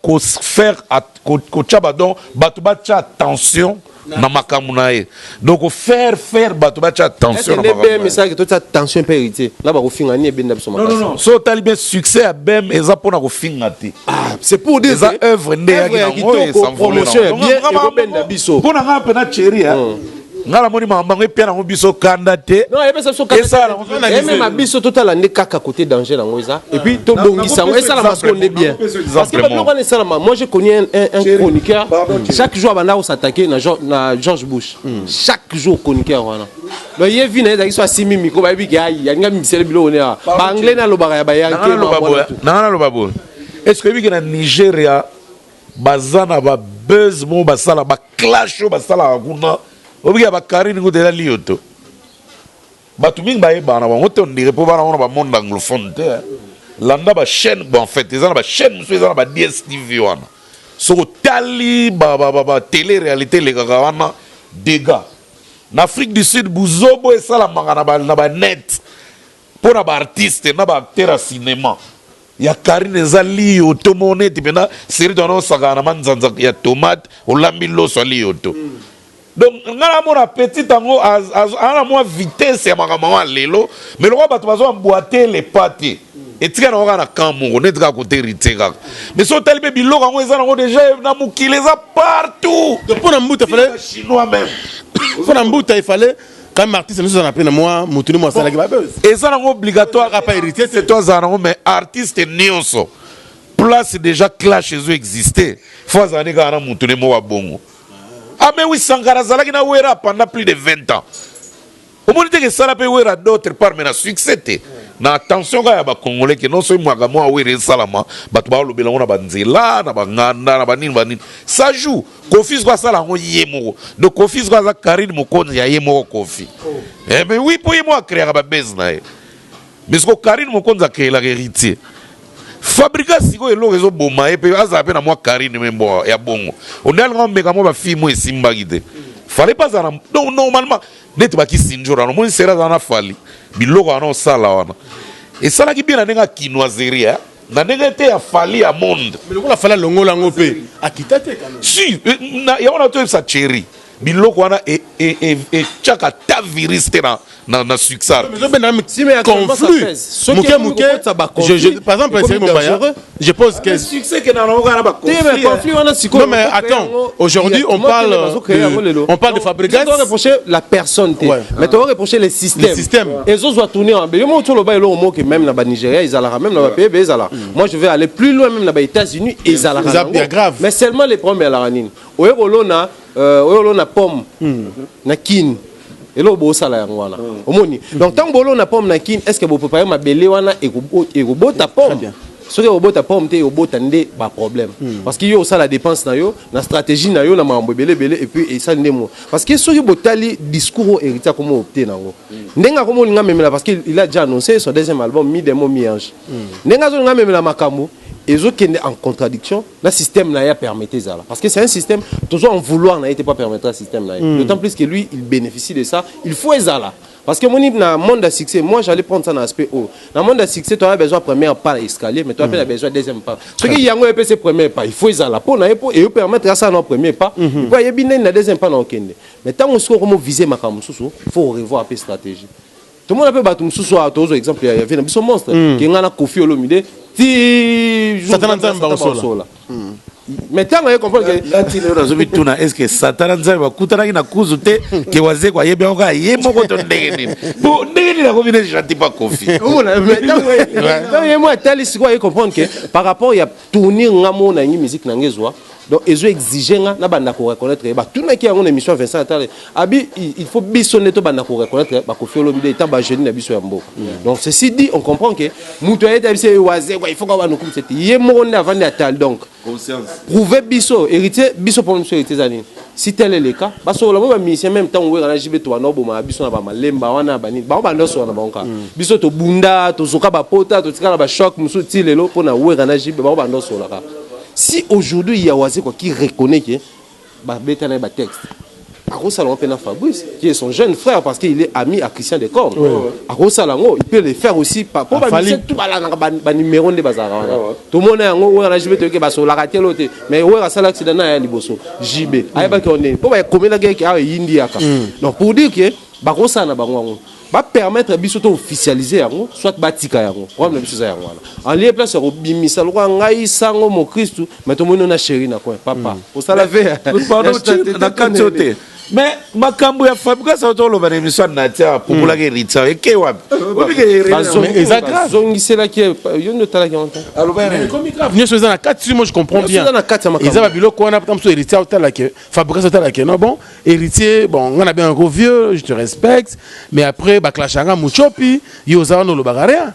ko faire kotia ba donc batu batia attention na makambo na ye donc ko faire faire bato batia attention na Est-ce que makambo na ye. BM esalaki totia tension mpe héritier nga bakofinga nini ebenda biso Non, non, makasi non. So otali bien succès ya BM eza mpo na kofinga te. c'est pour dire Eza que œuvre nde eyaki œuvre ya nango, kitoko, esanvole promotion ya nango. bien, Nga- nga- ekobenda biso. Mpo na ngai mpe na Thierry, hein, nga namoni makambo yango epia nango biso kanda te esalama biso totala nde kaka kote danger yango eza epuis tobongisa yango esalama soko nde bien parce que babiloko wana esalama moi j'ai connu un, un, un chroniqueur chaque jour abanda kosattaquer na, na george bush hmm. chaque jour chroniqueur wana donc ye vi na ye ezalaki so asimi mikro bayebi ke ayi alinga mibisele biloko ne awa baanglais nalobaka ya bayanke nanga naloba boye est ce que oyebiki na nigeria Baza na ba buzz moko basala ba clash oyo basalaka kuna oyebi ya ba Carine kutu eza liyo to bato mingi bayebana na bango te on dirait mpo bana ngo na ba monde anglophone te hein. landa ba chaîne bon, en fait eza na ba chaîne mosusu eza na ba DSTV wana soki otali ba, ba, ba, ba télé réalité elekaka wana dégâts na Afrique du Sud buzobo esalamaka na ba, na ba net Pona ba artistes na ba acteurs ya cinema ya carine eza liyoto moko neti pena serie wana osakana na manzanza ya tomate olambi loso ya liyoto donc nga na mona petit yango aza na mwa vitesse ya makambo yango ya lelo mais lokola bato bazo emboite le pas te etika na kaka na camp moko neti kaka kote heritier kaka mais so otali mpe biloko yango eza nango deja na mokili eza partout mpo na mbuta fale chinois meme mpo na mbuta efale Kami artiste nous on a pris na moi mutu ni mwasala ki ba buzz. Eza na obligatoire apa héritier c'est toi zana ngo mais artiste nionso. Place déjà clash ezo exister. Faut azana ni kana mutu ni mwa bongo. Ah mais oui Sankara zalaki na Wera pendant plus de 20 ans. Omoni te que sala pe Wera d'autre part mais na succès te. Na attention ka ya ba congolais que non so mwaka mwa Wera esalama bato ba lobela ngo na ba nzela na ba nganda na ba nini ba nini. Ça joue. Kofi zwa asala yango ye moko. Donc Kofi zwa aza Carine Mokonzi ya ye moko Kofi. Oh. Eh mais oui po ye moko akreaka ba buzz na ye. Mais siko Carine Mokonzi akreelaka Heritier. Fabrika siko eloko ezo boma ye pe azala pe na mwa Carine me mbo ya bongo. Onde alinga omeka mwa ba fille mo esimbaki te. Fallait pas azala donc normalement neti ba kisinjora no moni sera azala na fali biloko wana osala wana. Esalaki bien na ndenge ya kinoiserie. Na ndenge te ya Fally ya monde. Mais lokola Fally alongola yango pe akita te quand même. Si, eh, na yango na toyebisa Thierry. biloko wana etiaka e, e, e, ta virus te na, na, na succès conflit moke moke par exemple Thierry Mombaya je pose ah, question mais attends aujourd'hui on parle de, on parle de Fabregas la personne te mais tu vas reprocher les systèmes ezo zwa tourner ya mabe yo moko oloba eloko moko ke meme na ba Nigeria ezalaka meme na ba pays ezalaka mm. moi je vais aller plus loin meme na ba États-Unis ezalaka na grave mais seulement les problèmes ezalaka nini oye kolona euh, oye kolona pomme mm. na Kin eloko bosala yango wana mm. omoni donc ntango bolona pomme na Kin est ce que boprépare mabele wana ekobota pomme soki ekobota pomme te ekobota nde baproblème hmm. parce que yo osala dépense na yo na stratégie na yo na makambo ebele ebele epuis esali nde mo parce que soki botali discours oyo héritier akomi opte na yango ndenge akomi olinga amemela parce que il a déjà annoncé son deuxième album mi demo mi ange mm. ndenge azolinga amemela makambo ezokende en contradiction na système na ye apermete ezala parce que c'est un système tozo en vouloir na ye te po apermettre ya système na ye mm. d'autant plus que lui il bénéficie de ça il faut ezala parce que moni na monde ya succès moi j'allais prendre ça na aspect oyo na monde ya succès toya besoin première pas ya escalier mais toya mpe na mm. besoin deuxième pas soki yango epesi premier pas il faut ezala mpo na ye mpo eyo permettre asala na premier pas mpo mm-hmm. ayebi ndeni na deuxième pas na okende Mais tango sikoyo okomo viser makambo mosusu, faut ko revoir pe strategie. Tomona pe bato mosusu awa tozwa exemple ya vie na biso monstre mm. ke ngai na Koffi Olomide ti Satana Nzambe bakosola. Mm. Mais tango aye comprendre ke nga ti lelo nazobi tuna est-ce que Satana Nzambe bakutanaki na kuzu te ke wazeko ayebi yango kaka ye moko to ndenge nini po ndenge nini akomi ne gentil pa Koffi. Omona mais tango ye mwa atali sikoyo aye comprendre ke par rapport ya tournir nga mo na ngi musique na nge zwa donc ezo exige nga na banda ko reconnaître ba tuna ki yango na émission Vincent Atale abi il faut biso ne to banda ko reconnaître ba ko fiolo bide ta ba jeune na biso ya mbo mm. donc ceci dit on comprend que mutu ayeta biso waze quoi il faut ka ba nukum cette ye mo nda vandi atal donc conscience prouver biso héritier biso pour nous héritier zani Si tel est le cas, ba solola bo ba musiciens meme tango Werra na JB tobanda kobomaka biso na ba malemba wana ba nini bango banda kosolola na bango kaka. Biso tobunda, tozoka ba pota, totika na ba chocs mosusu ti lelo pona Werra na JB bango banda kosolola kaka. Si aujourd'hui il ya Wazekwa qui reconnaît que ba beta na ye ba textes, akosala yango pe na Fabrice qui est son jeune frère parce qu'il est ami à Christian de Corne. Akosala yango, il peut le faire aussi pa po ba musiciens tout balandaka ba numero nde bazalaka wana. Tomona yango Werra na JB toyebi que basololaka te lelo te. mais wera asala accident na ya liboso jb mm. ayebaki yango ndenge mpo bakomelaki yeke awa eyindi yaka mm. donc pour dire que bakosala na bango yango bapermettre biso to officialise yango soit batika yango problème na biso eza yango wana alie place ya kobimisa lokola ngai sango mokristu mai tomoni na sheri na coin papa mm. osala ve na kati yo te mais makambo ya fabrigas auto oloba na émission ya natia apupulaki eritsa eke wapi azongiselaki yo nde otalaki yango nyonso eza na kati si moi je comprends bien eza babiloko wana ta mosusu héritier otalake fabrigas otalake non bon héritier bon nga na bengako vieux je te respecte mais après baclashanga muchopi yo oza wana olobaka rien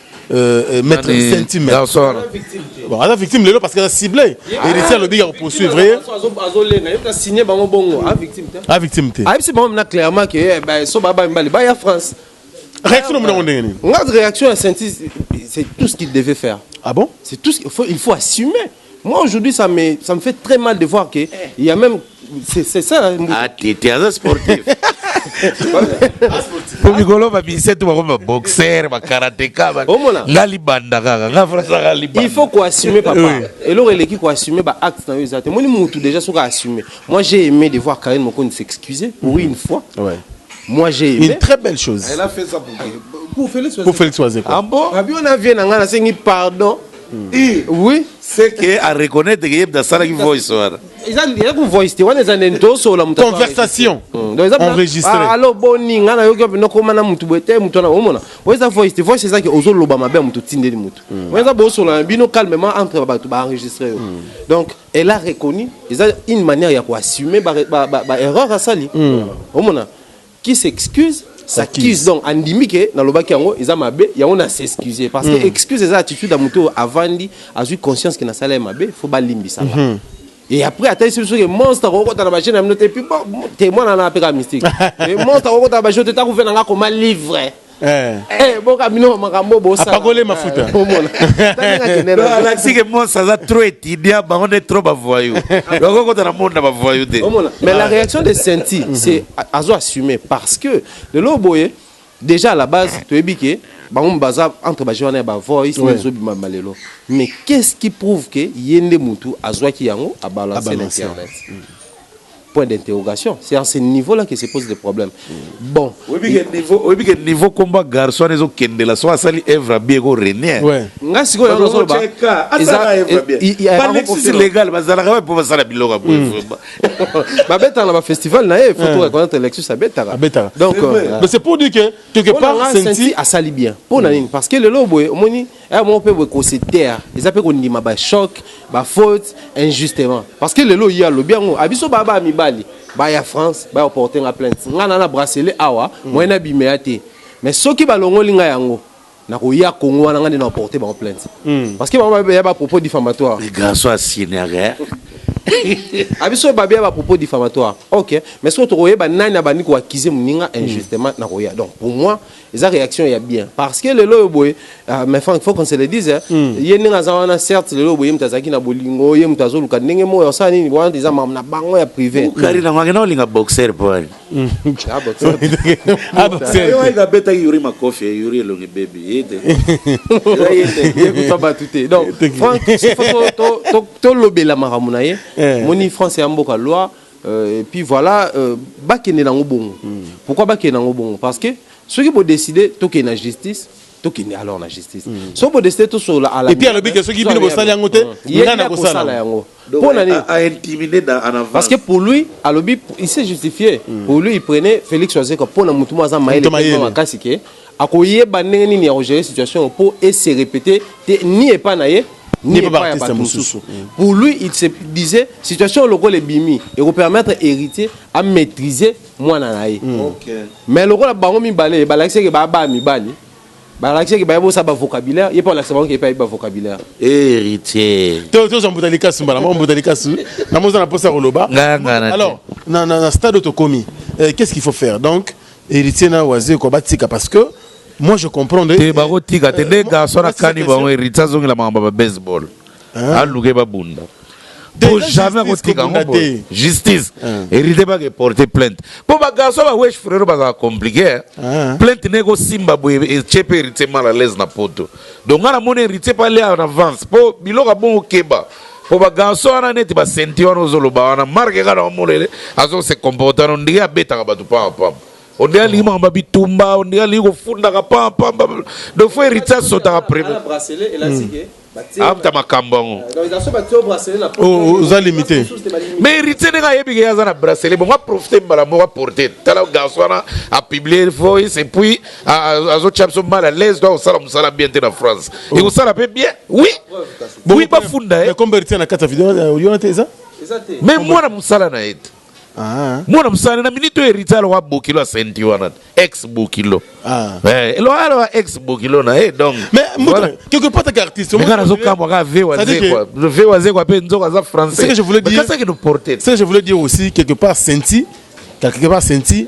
Euh, euh, maître sentime bon aza victime lelo parce que aza ciblé héritier alobi ya kopoursuivre ye a victime te ayebisi bango mna clairement ke eh, eh, so baba mibale baya france réaction omona ngo ndenge nini nga réaction ya senti c'est tout ce qu'il devait faire ah bon c'est tout ce il faut assumer Moi aujourd'hui ça me ça me fait très mal de voir que il y a même c'est c'est ça hein, Mbuta. Ah, t'es t'es un sportif. po mikolo babise tu bakomi baboxer bakarateka ba- Omona? nga libanda kaka nga frasaka libanda il faut koassumer papa Oui. eloko eleki koassumer ba acte na yo eza te moni mutu déjà soki assumer moi j'ai aimé de voir Karine Mokondi s'excuser pour une fois Ouais. moi j'ai une aimé très belle chose Elle a fait ça pour, pour Félix. pour Félix Wazekwa ah bon abi on a vie na nga nasengi pardon oui c'est que a reconnaître que yebda sala ki voice wana eza ndire ku voice te wana eza nde tosola mutu conversation hmm. enregistré ah, allo boni nga na yoki na koma na mutu bote mutu na omona oyo eza voice te voice eza ki ozo loba mabe mutu tindeli mutu hmm. oyo eza bosola na bino calmement entre batu ba enregistrer yo hmm. donc elle a reconnu eza une manière ya ko assumer ba ba, ba, ba erreur asali omona qui s'excuse s'accuse donc andimi ke nalobaki yango eza mabe yango na s'excuse parce que mm. excuse eza attitude ya moto oyo avandi azwi conscience ke nasala ye mabe fo balimbisa nga mm -hmm. Et après, attends, c'est sûr que monstre, on compte à la machine, on a noté, puis bon, témoin, on a appelé la mystique. Et monstre, on compte à la machine, on a couvert, on a comme un livre. Eh. Eh, boka bino makambo bosapakole mafuta alakisi ke mos aza trop étudiant bango nde trop bavoyou loko kota na monde na bavoyou te mais la réaction de senti mhm. c'est azo assumer parce que lelo boye déjà à la base toyebi ke bango baza entre baje wana ya bavoice ezobima malelo mais qu'est ce qui prouve ke ye nde mutu azwaki yango abalanse na internet mm. point d'interrogation c'est à ce niveau là que se pose le problème bon oyebi ke niveau komba garçon wana ezokendela so asali evre abie eko renie nga sikoyo nazoloba balexis légal bazalaka wapi mpo basala biloko ya boye hmm. babetaka na bafestival na ye faut to reconnaître lexus abetaka donc euh, mais c'est pour dire que quelque part senti asali bien mpo na hmm. nini parce que lelo boye omoni heure moko mpe boye ko se taire eza mpe kondima ba choc ba faute injustement parce que lelo ye alobi yango a biso baya baya mibali baya france baya oporte nga plainte nga na na bracelet awa mm. moyen abimela te mais soki balongoli nga yango nakoya congo wana nga nde na oporte bango plainte mm. parce que bango baya ba propos diffamatoire garçon asignere a biso babe ya bapropos diffamatoire ok mais soki tokoyeba nani abandi koakize moninga injustement mm. nakoya donc pour moi eza réaction ya bien parce que lelo oyo boye uh, mais frank faut qu'on se le dise hein, mm. ye ndenge aza wana certes lelo oyo boye ye moto azalaki na bolingo ye moto azoluka ndenge moyo asala nini wana eza mam na bango ya privé kari nango akenda kolinga boxer po ali abetaki yuri makofi yuri elongi bebi ye te yekuta bato te donc frank tolobela makambo na ye moni france ya mboka loi Euh, et puis voilà euh, bakende nango bongo mm. pourquoi bakende nango bongo parce que soki bodeside tokende na justice tokende alors na justice mm. soki bodeside tosolola ala epuis alobi ke soki bino bosali yango te ngai nakosala yango mpo na nini parce que pour lui alobi il s'est justifié mm. pour lui il prenait félix wazekwa mpo na motu moko aza mayele makasi ke Akoyeba ndenge nini ya ko gerer situation oyo po e se repeter te ni epa na ye ni epa ya batu mususu. Pour lui il se disait situation oyo lokola ebimi eko permettre Heritier a maitriser mwana na ye. Mais lokola bango mibale ba lakisa ke ba ba mibali ba lakisa ke ba yebi osala ba vocabulaire ye pe alakisa bango ke ye pe ayebi ba vocabulaire. Heritier. To tozwa mbuta likasu mbala moko mbuta likasu namoni oza na posa ya koloba alors na stade oyo tokomi qu'est ce qu'il faut faire donc Heritier na wazekwa batika parce que moi je comprendre te bako tika te nde garçon na kani bango heritier azongela makambo ba baseball aluke babunda po jamais akotika yango boye justice hérité baka eporte plainte mpo bagarçon bawesh frero bazala compliqué eh. ah. plainte ne ekosimba boye etie mpe héritier mal à l'aise na poto donc nga namoni héritier mpe alia en avance mpo biloko abongo keba po ba garçon wana neti ba senti wana ozoloba wana marke kaka na molele azo se comporta no ndenge abetaka bato pamba pamba ondenge alingi maka babitumba ondenge alingi kofundaka pamba pamba donc fo heritier asotaka premier afuta makambo yango oza limite mais heritier ndenge ayebike ye aza na bracelet bongo aprofite mbala moko aporte tala garçon wana apublie voice epuis azotya biso mal à l'aise to akosala mosala bien te na france ekosala mpe bien oui Oui, ba funda ye. Comme Bertin na kati ya video euh, oyona te eza? Eza te. Mais mwana musala na ete. Ah. Mwana musala na minute oyo Rita aloka bokilo asenti wana ex bokilo. Ah. Eh, elo alo ex bokilo na eh donc. Mais voilà. quelque part ta artiste. Mais kana zoka mwa ka ve waze quoi. Ve waze quoi pe nzoka za français. C'est que je voulais dire. Kasa que nous porter. C'est que je voulais dire aussi quelque part senti quelque part senti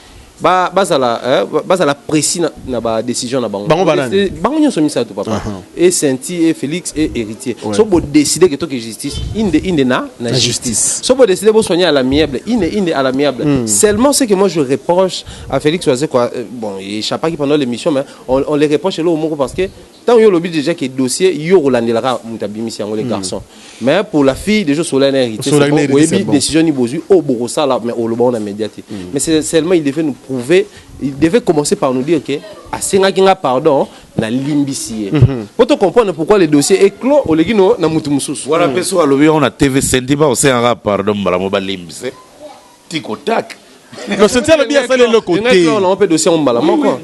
ba bazala eh, bazala précis na, na ba décision na bango bango banani bango nyonso misato papa uh -huh. et Sainty et Félix et héritier ouais. so bo décider que toke justice inde inde na na, na justice. justice so bo décider bo soigner à l'amiable inde inde à l'amiable mm. seulement c'est que moi je reproche à Félix Oise quoi euh, bon il échappaki pendant l'émission mais on, on les reproche l'eau moko parce que Tango yo olobi dejà que dossier yo okolandela kaka mutu abimisi yango le garçon. Mais pour la fille dejà osola na héritier c'est bon oyebi decision ni bozui oyo bokosala mais oloba ngo na media te. Mais c'est seulement il devait nous prouver il devait commencer par nous dire que asengaki nga pardon na limbisi ye. Po to comprendre pourquoi le dossier est clos oleki no na mutu mususu. Wana pe soki alobi yango na TV Sendiba osengaka pardon mbala moko balimbisa ye. Tic au tac. Non, Cynthia alobi asali eloko te. Ngai on pe dossier yango mbala moko.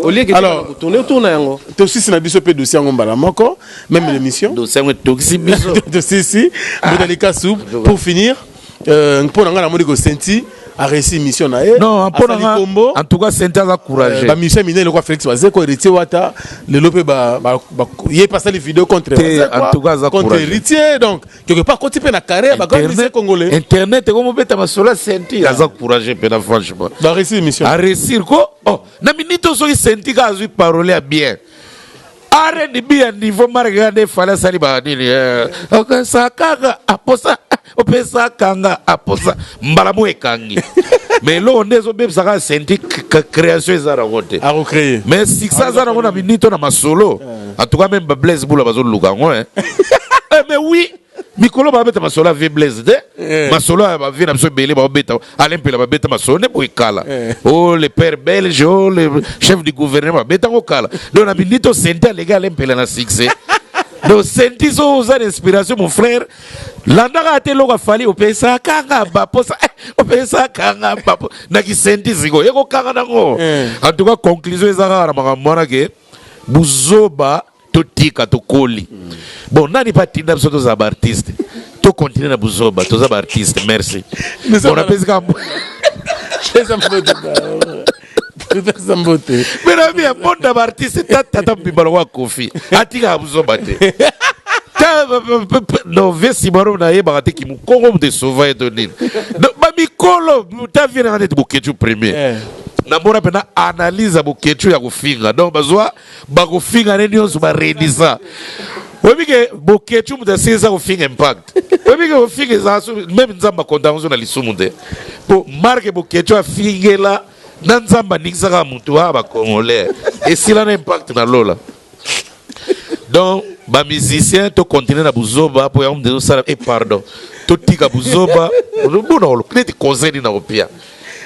Au lieu que alors tourner autour na yango. To sisi na biso pe dossier yango mbala moko, même l'émission. Dossier yango tokisi biso. To sisi, botali ka soup pour finir. Euh, mpo na ngai namoni ko senti a réussi mission na ye non mpona nga en tout cas sente aza courage euh, ba mission minene lokwa Félix Bazeko héritier wata lelo pe ba, ba, ba ye pasali vidéo contre te en tout cas aza contre héritier donc quelque part koti pe na carrière ba grand musicien congolais internet ko mobeta masola senti aza courage pe na franchement ba réussir émission a réussir ko oh na minute oso ki senti ka azui parole ya bien R&B ya niveau marque ya nde fala sali ba nini eh. okasa kaka aposa opesa kanga aposa mbala mo ekangi mais eloko nde ezobebisa kaka senti création eza nango te mais succès aza nango na minute na masolo En tout cas, même ba Blaise Boula bazo luka yango hein. eh, mais oui, mikolo ba beta masolo vie Blaise de. Eh. Masolo ba vie na biso belé ba beta. Alain Pela ba beta masolo ne boy kala. Eh. Oh le père belge, oh le chef du gouvernement beta ko kala. Donc na bilito senta les gars Alain Pela na succès. Donc senti so oza inspiration mon frère. Landaka ate loka fali opesa kanga ba posa. Eh, opesa kanga ba. Na ki senti ziko. Yeko kanga nango. Eh. En tout cas conclusion ezaka na makambo wana ke buzoba totika tokoli bon nani mpe atinda biso tozala baartiste tokontinue na buzoba toza baartiste merci bon napesi kaka topesa mbote menami ya bonda baartiste tatata mobimba lokola kofi atikaka buzoba te no vie simaro nayebaka te kimukongo moto esova ye to nini bamikolo ta vie nanga neti boketshu premier eh. na mona pena analyse ya boketshu ya kofinga donc bazwa bakofinga ne nyonso baredisa oyebi ke boketshu moto asilisa kofinga impact oyebi ke kofinga eza meme nzambe akontango so na lisumu te mpo marke boketshu afingela na nzambe aningisaka motu a bakongolais esila na impact na lola donc ba musicien to continuer na buzoba mpo yango ndezo sala e pardon totika buzoba bona olobi neti conseil nini nakopia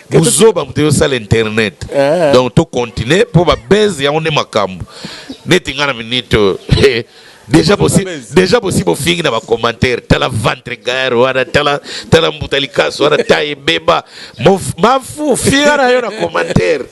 buzoba moto eyosala internet eh. donc to continuer mpo babase yango nde makambo neti ngai na minite oyo eh, deja bosi deja bosi bofingi na bacommentaire tala ventre gaire wana tala tala mbuta likasu wana ta ebeba mafu finga na yo na commentaire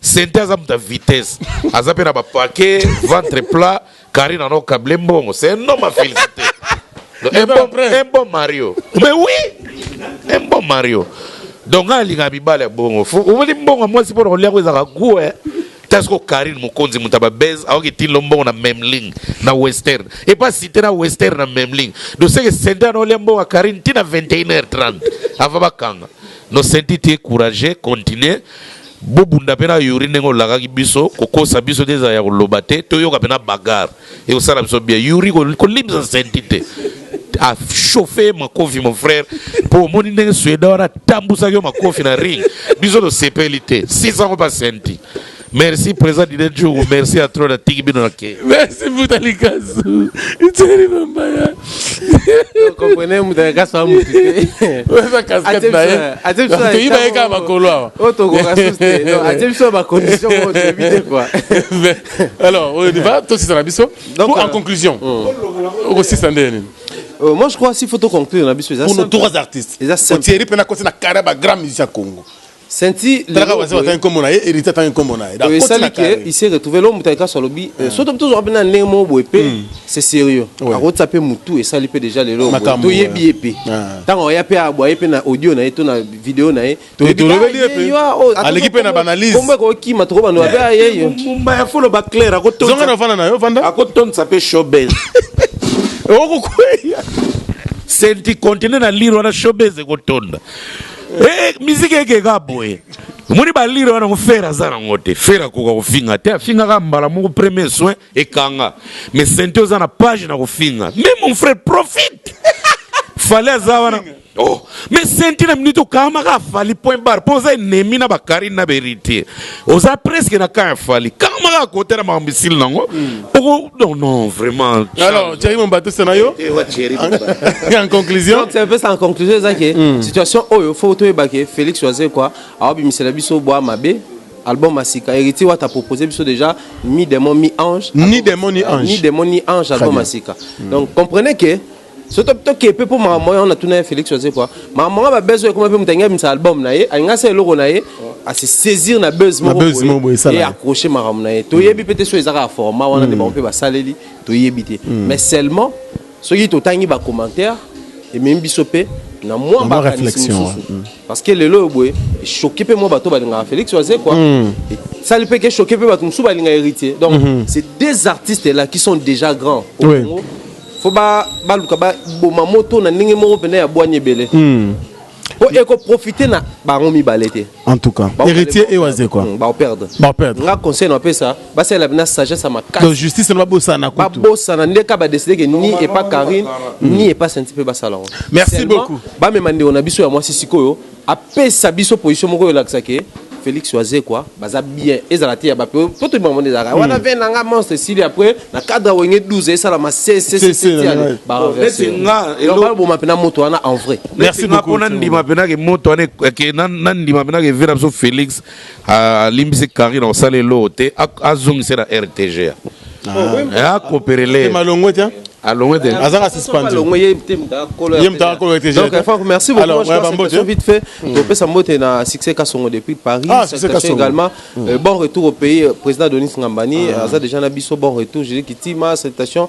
Cynthia aza mutu ya vitesse aza pe na ba paquet ventre plat Karina no kable mbongo c'est un homme à féliciter un bon, un bon Mario mais oui un bon Mario donc ngai alingaka mibale ya bongo omoni mbongo ya mwasi mpo na kolia yango ezalaka gu eh. ta soko karine mokonzi moto ya babese aoki tinlo mbongo na memling na western epa site na western na memling doseke sente ana olia mbongo ya karine ntina 21 h 30 ava bakanga no senti tie courage continue Bobunda pe na youri ndenge olakaki biso kokosa biso te ezala ya koloba te toyoka pena bagarre ekosala biso bien youri kolimbisa senti te a chauffe ye makofi mon frère mpo omoni ndenge sueda wana atambusaki yo makofi na ring biso tosepeli te sisango mpa senti merci président dide njugu merci ya trop natiki bino na ke merci mbuta likasu itseli mambaya comprenez moto ayaka soa motu teoyiba ye kaka makolo awa oyo tokoka susu te atie biso na bacondition oyo toyebi te kua alors oyo diva tosisa na biso po en conclusion okosisa nde nini Euh, moi je crois s'il faut to conclure na biso eza pour nos trois artistes eza simple Thierry pena kosi na carrière ba grand musicien Congo Senti talaka wazee watangi kombo na ye héritier atangi kombo na ye donc esali que il s'est retrouvé l'homme mutaka kaso alobi euh, soto to zoka pena ndenge mo boye pe hmm. c'est sérieux akotsa pe mutu esali pe déjà le lelo to yebi ye pe tango ya pe abwa ye pe na audio na ye to na vidéo na ye to yebi ye pe aleki pe na banalise kombo ko kima to bando ba ye yo mumba ya folo ba clair akotonsa zonga na fana na yo fanda akotonsa pe showbiz okokweya senti continue na lire wana showbiz ekotonda Eh, musique ekeka boye omoni balire wana ngo fere aza nango te fere akoka kofinga te afingaka mbala moko premier soin ekanga mais sente oza na page na kofinga mais mon frère profite fale aza wana oh mais sente na minute okamaka afali point bar mpo oza enemi na bakarine na berite oza presque na camp ya fali kangama kaka kote na makambo esili nango hmm. oko non non vraiment alors jerry mombatusa na yo en conclusion c'est un peu ça en conclusion eza ke hmm. situation oyo faut toyeba ke félix oise quoi aobimisela biso bwa mabe album asika héritier wata proposé biso déjà mi démon mi ange ni démon ni ange ni démon ni ange album asika hmm. donc comprenez que so toke mpe mpo makambo yango natuna ye félix wazekwa makambo yango babese oyo ekoma mpe moto alingi abimisa album na ye alingi asala eloko na ye asi saisir na buzz moko boye et accrocher makambo na ye toyebi peut-être soki ezaka ya format wana nde bango mpe basaleli toyebi te hmm. mais seulement soki totangi ba commentaire ememi biso mpe na mwa makanisi mosusu hmm. parce que lelo oyo boye echoke mpe mwa bato balingaka félix wazekwa hmm. esali mpe ke choke mpe bato mosusu balinga héritier donc c'est deux artistes là qui sont déjà grands au oui. Congo fo baluka ba baboma moto na ndenge moko mpenza ya bwani ebele hmm. po ekoprofite na bango mibale te en tout cas héritier et waze quoi hmm, baoperdre baoperdre nga conseil na pesa basalela bina sagesse ya makasi donc justice na babosana kutu babosana nde ka badeside ke ni epa karine ni epa senti mpe basala yango merci beaucoup bamema ndeko na biso ya mwasi sikoyo apesa biso position moko elakisa ke Felix Wazekwa baza bien ezala te ya ba po to bima monde ezalaka hmm. wana vin nanga monstre sili après na cadre wenge 12 esala ma CC ba reverser nga elo bo mapena moto wana en vrai merci beaucoup pona ndima pena ke moto wana ke na ndima pena ke vin na biso Felix alimbisi carine akosala eloo te azongise na rtga akoperele malongo te alongo te azanga suspendu ye mutaka kolo rtg donc enfin merci beaucoup alors ba mbote vite fait hmm. to pesa mbote na succès kasongo depuis Paris ah, succès kasongo également hmm. euh, bon retour au pays euh, président Denis Ngambani ah. euh, aza déjà na biso bon retour Julie Kitima salutations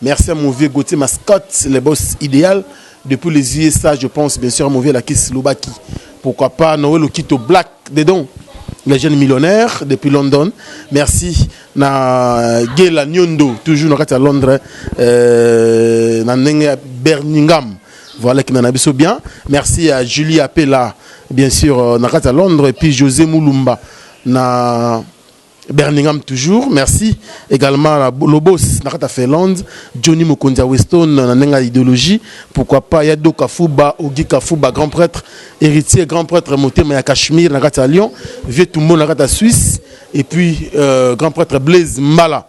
Merci à mon vieux Gauthier Mascotte, le boss idéal depuis les USA, je pense bien sûr à mon vieux la kiss Lubaki. Pourquoi pas Noël Okito Black dedans, le jeune millionnaire depuis London. Merci na Gela Nyondo toujours na kati à Londres euh, na ndenge ya Birmingham. Voilà qui nana biso bien. Merci à Julie Apela bien sûr euh, na kati à Londres et puis José Mulumba na Birmingham toujours merci également na Lobos na kata Finlande Johnny Mokonzi ya Weston na ndenge ya idéologie pourquoi pas ya Doka Fuba Ogi Kafuba grand prêtre héritier grand prêtre motema ya Cachemire na kata ya Lyon vieux Tumbo na kata Suisse et puis euh, grand prêtre Blaise Mbala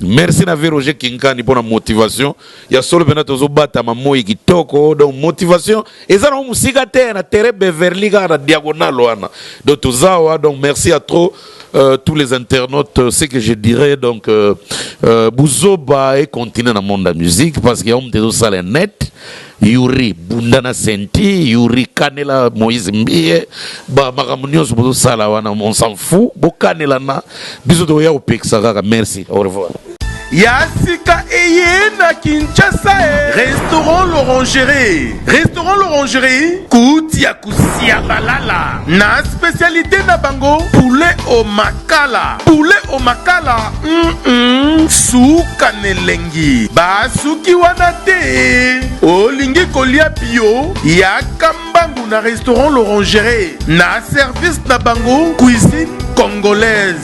Merci na vie Roger Kinkani pona motivation ya solo pena tozo batama moi kitoko donc motivation eza na musika te na terrain Beverly kaka na diagonale wana donc tozawa donc merci à trop euh, tous les internautes euh, ce que je dirais donc euh, euh, buzoba et continuer na monde ya musique parce que ya omutu ezosala net Yuri bunda na senti, Yuri kanela Moïse Mbiye, ba makambo nyonso bozosala wana on s'en fout, bokanela na biso tokoya kopekisa kaka. Merci, au revoir. ya sika eye na Kinshasa. Restaurant L'Orangerie. Restaurant L'Orangerie, kotia Kusiabalala na specialite na bango poulet au makala. Poulet au makala, mm -mm, suka n'elengi. Ba suki wana te. Olingi kolia bio ya kambangu na restaurant L'Orangerie na service na bango cuisine congolaise.